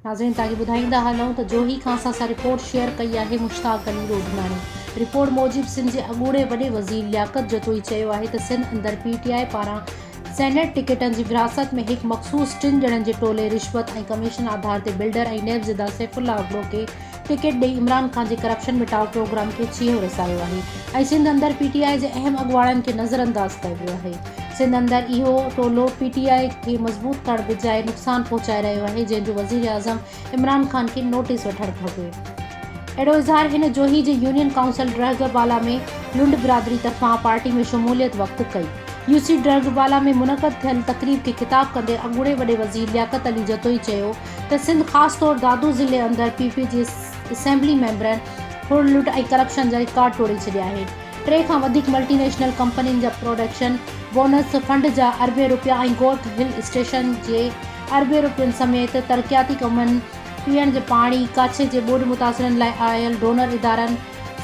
ناظرين تاڪي ٻڌائيندا هلون ته جوهي کان اسان سان رپورٽ شيئر ڪئي آهي مشتاق علي روڊماڻي رپورٽ موجب سنڌ جي اڳوڻي وڏي وزير لياقت جتوئي چيو آهي ته سنڌ اندر پي ٽي آء پاران سينيٽ ٽڪيٽن جي ورهاست ۾ هڪ مخصوص ٽن ڄڻن جي ٽولي رشوت ۽ ڪميشن آڌار تي بلڊر ۽ نيب زده سيف الله ابڙو کي ٽڪيٽ ڏئي عمران خان جي ڪرپشن مٽاء پروگرام کي ڇيهو رسايو آهي ۽ سنڌ اندر پي ٽي آء جي اهم اڳواڻن کي نظرانداز ڪيو ويو آهي سنڌ اندر اهو ٽولو پي ٽي آء کي مضبوط ڪرڻ بجاء نقصان پهچائي رهيو آهي جنهن جو وزيراعظم عمران خان کي نوٽيس وٺڻ گهربي. اهڙو اظهار هن جوهي جي يونين ڪائونسل ڊرهڳ بالا ۾ لنڊ برادري طرفان پارٽي ۾ شموليت وقت ڪئي. يو سي ڊرهڳ بالا ۾ منعقد ٿيل تقريب کي خطاب ڪندي اڳوڻي وڏي وزير لياقت علي جتوئي چيو ته سنڌ خاص طور دادو ضلعي اندر پي پي جي اسيمبلي ميمبرن ڦر لٽ ۽ ڪرپشن جا رڪارڊ ٽوڙي ڇڏيا آهن ٽي کان وڌيڪ ملٽي نيشنل ڪمپنين جا پروڊڪشن بونس فنڊ جا اربين روپيا ۽ گورک هل اسٽيشن جي اربين روپين سميت ترقياتي ڪمن، پيئڻ جي پاڻي، ڪڇ جي ٻوڏ متاثرن لاء آيل ڊونر ادارن،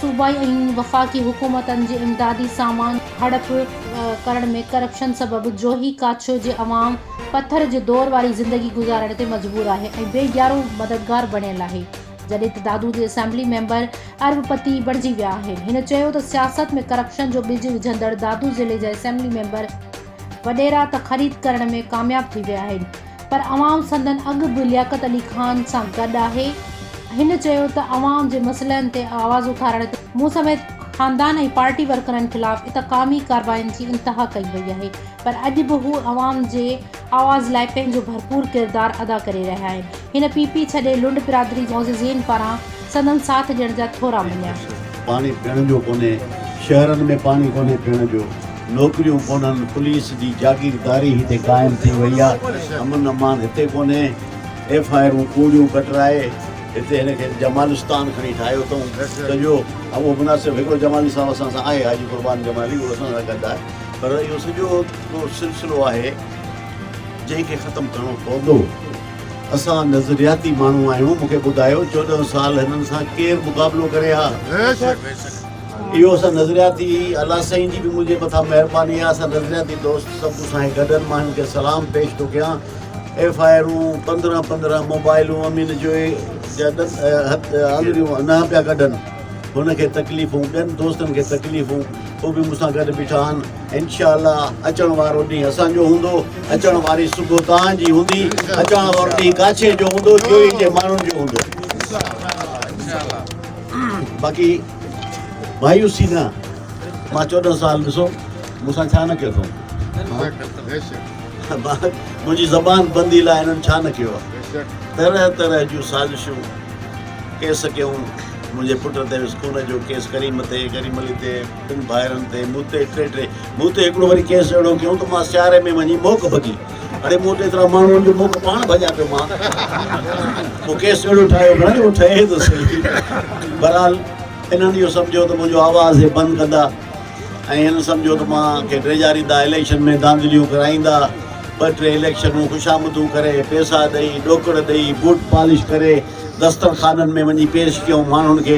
صوبائي ۽ وفاقي حڪومتن جي امدادي سامان هڙپ ڪرڻ ۾ ڪرپشن سبب جوهي ڪاڇو جي عوام پٿر جي دور واري زندگي گذارڻ تي مجبور آهي ۽ بي ڄارو مددگار بڻيل آهي جڏهن ته دادو جي اسيمبلي ميمبر ارب پتي بڻجي ويا آهن هن چيو ته سياست ۾ ڪرپشن جو ٻج وجهندڙ دادو ضلعي جا اسيمبلي ميمبر وڏيرا ته خريد ڪرڻ ۾ ڪامياب ٿي ويا آهن پر عوام سندن اڳ به لياقت علي خان سان گڏ آهي. هن چيو ته عوام جي مسئلن تي آواز اٿارڻ تي مون سميت خاندان ۽ پارٽي ورڪرن خلاف اتقامي ڪارواين جي انتها ڪئي وئي آهي پر اڄ به هو عوام جي آواز لاء پنهنجو ڀرپور ڪردار ادا ڪري رهيا آهن. هن پي پي ڇڏي لنڊ برادري معززين پاران سندن ساٿ ڏيڻ جا ٿورا مڃيا. پاڻي پيئڻ جو ڪونهي، شهرن ۾ پاڻي ڪونهي پيئڻ جو، نوڪريون ڪونهن، پوليس جي جاگيرداري هتي قائم ٿي وئي آ، امن امان هتي ڪونهي، ايف آء آرون ڪوڙيون ڪٽرائي هتي هن کي جمالستان کڻي ٺاهيو اٿئون ته جو اهو مناسب هڪڙو جمالي صاحب اسان سان آهي حاجي قربان جمالي اهو اسان سان گڏ آهي پر اهو سڄو هڪڙو سلسلو آهي جنهن کي ختم ڪرڻو پوندو. اسان نظرياتي ماڻهو آهيون مون کي ٻڌايو چوڏهن سال هنن سان ڪير مقابلو ڪري ها اهو اسان نظرياتي الله سائين جي به منهنجي مٿان مهرباني آهي اسان نظرياتي دوست سڀ اسان کي گڏن مان هن کي سلام پيش ٿو ڪيان ايف آئي آرون پندرهن پندرهن موبائلون امين جو آڱريون نه پيا ڪڍن هن کي تڪليفون ٻين دوستن کي تڪليفون هو به مون سان گڏ بيٺا آهن انشاء الله اچڻ وارو ڏينهن اسان جو هوندو اچڻ واري صبح توهان جي هوندي اچڻ وارو ڏينهن ڪاڇي جو هوندو جو ان جي ماڻهن جو هوندو باقي مايوسي نه مان چوڏهن سال ڏسو مون سان ڇا نه ڪيو اٿو منهنجي زبان بندي لاء هنن ڇا نه ڪيو آهي طرح طرح جون سازشون ڪيس ڪيون منهنجي پٽ تي اسڪول جو ڪيس ڪريم تي ڪريم علي تي تن ڀائرن تي مون تي ٽي ٽي مون تي هڪڙو وري ڪيس اهڙو ڪيو ته مان سياري ۾ وڃي موڪ ڀڳي اڙي مون تي ايترا ماڻهو جو موڪ پاڻ ڀڄا پيو مان مون ڪيس اهڙو ٺاهيو گهڻا جو ٺهي ته صحيح بهرحال انهن اهو سمجهيو ته منهنجو آواز هي بند ڪندا ۽ هن سمجهيو ته مان کي ڊيڄاريندا اليڪشن ۾ دانڌليون ڪرائيندا ٻه ٽي اليڪشنون خوشامدون ڪري پيسا ڏئي ڏوڪڙ ڏئي بوٽ پالش ڪري دسترخانن ۾ وڃي پيش ڪيو ماڻهن کي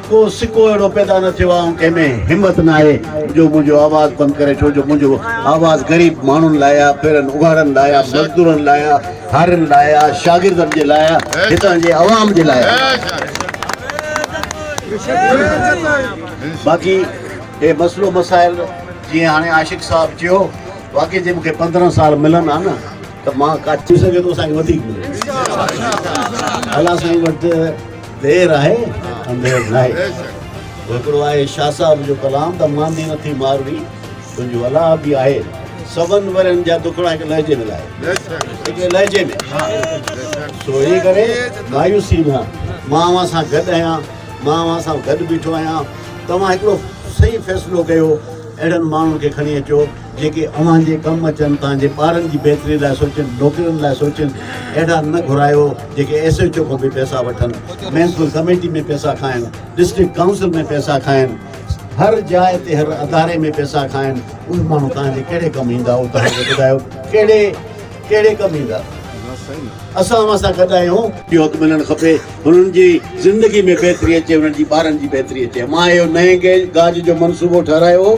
ڪو سڪو اهڙو پيدا نه ٿيو آ ۽ ڪنهن ۾ همت ناهي جو منهنجو آواز بند ڪري ڇو جو منهنجو آواز غريب ماڻهن لاء آ، ڦيرن اگهاڙن لاء آ، مزدورن لاء آ، هارين لاء آ، شاگردن جي لاء آ، هتان جي عوام جي لاء آ. باقي هي مسئلو مسائل جيئن هاڻي عاشق صاحب چيو واقعي جي مونکي پندرهن سال ملن آ نه ته مان ڪا. ٿي سگهي ٿو اسان کي وڌيڪ ملي. الله سائين وٽ دير آهي انڌير ناهي هڪڙو آهي شاهه صاحب جو ڪلام ته ماندي نه ٿي ماروي تنهنجو الاء به آهي سون ورن جا دکڙا هڪ لهجي ۾ لائي لهجي ۾ سو اي ڪري مايوسي نه مان اوهان سان گڏ آهيان مان اوهان سان گڏ بيٺو آهيان توهان هڪڙو صحيح فيصلو ڪيو اهڙن ماڻهن کي کڻي اچو جيڪي اوهان جي ڪم اچن، تان جي ٻارن جي بهتري لاء سوچن، نوڪرين لاء سوچن، اهڙا نه گهرايو جيڪي ايس ايچ او کان به پئسا وٺن، ميونسپل ڪميٽي ۾ پئسا کائن، ڊسٽرڪٽ ڪائونسل ۾ پئسا کائن، هر جاء تي هر اداري ۾ پئسا کائن، اهي ماڻهو تان جي ڪهڙي ڪم ايندا او تان کي ٻڌايو ڪهڙي ڪهڙي ڪم ايندا اسان اوهان سان گڏ آهيون. اهو حق ملڻ کپي هنن جي زندگي ۾ بهتري اچي هنن جي ٻارن جي بهتري اچي مان اهو نئين گيج گاج جو منصوبو ٺهرايو هو.